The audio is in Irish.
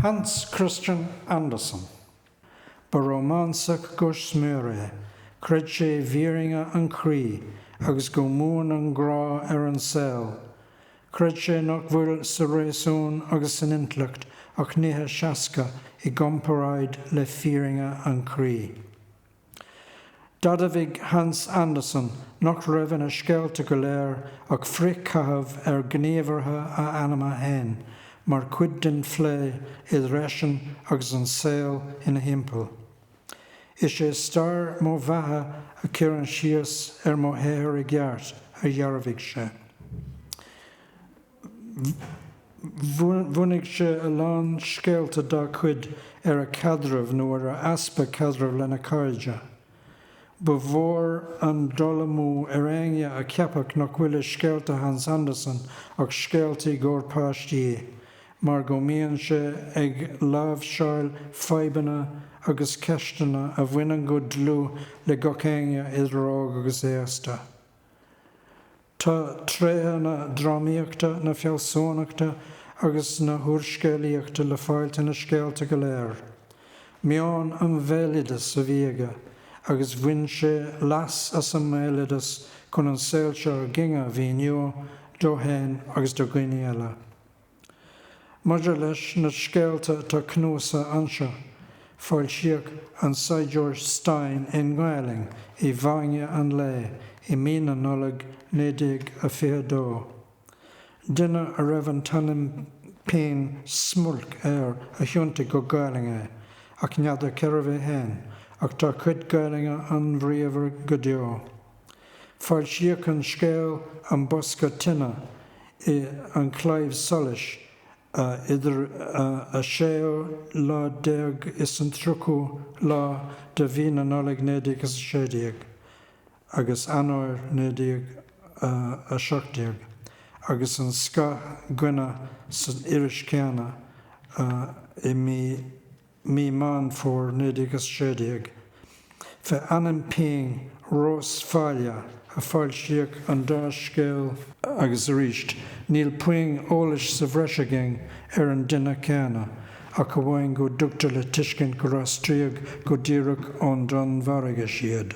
Hans Christian Andersen. Ba rómánsach go smior é, chreid sé i bhfírinne an chroí agus go mbuann an grá ar an saol. Chreid sé nach bhfuil sa réasún agus san intleacht ach nithe seasca i gcomparáid le fírinne an chroí. D'admhaigh Hans Andersen nach raibh ina scéalta go léir ach frithchaitheamh ar ghníomhartha a anama féin mar chuid den phlé idir eisean agus an saol ina thimpeall. Is é stair mo bheatha a chuireann síos ar mo shaothar i gceart, a dhearbhaigh sé. Bhunaigh sé a lán scéalta dá chuid ar a chaidreamh nó ar a easpa caidrimh lena chairde. Ba mhór an dul amú ar éinne a cheapfadh nach bhfuil i scéalta Hans Andersen ach scéalta i gcomhair páistí mar go mbíonn sé ag láimhseáil fadhbanna agus ceisteanna a bhaineann go dlúth le gach éinne idir óg agus aosta. Tá tréithe na drámaíochta, na fealsúnachta agus na húrscéalaíochta le fáilt ina scéalta go léir. Meon an bhéaloideas a bhí aige agus bhain sé leas as an mbéaloideas chun an saol seo againn a mhíniú dó féin agus do dhaoine eile. Maidir leis na scéalta atá cnuasaithe anseo, foilsíodh An Saighdiúir Stáin i nGaelainn i bhFáinne an Lae i mí na Nollag 1922. Duine a raibh an t-ainm pinn 'Smulc' air a thiontaigh go Gaelainn é, ach n'fheadar cérbh é féin, ach tá a chuid Gaelainne an-bhríomhar go deo. Foilsíodh an scéal 'An Bosca Tine' i An Claidheamh Soluis idir an séú lá déag is an tríochú lá de mhí na Nollag 1916 agus Eanáir 1917 agus 'An Scáth gCoinne' san iris chéanna i mí mí Meán Fómhair 1916. Fé ainm pinn Rós Faille a foilsíodh an dá scéal. agus arís níl puinn eolais sa bhreis againn ar an duine céanna ach amháin go dtugtar le tuiscint gur aistríodh go díreach ón Danmhairgis iad.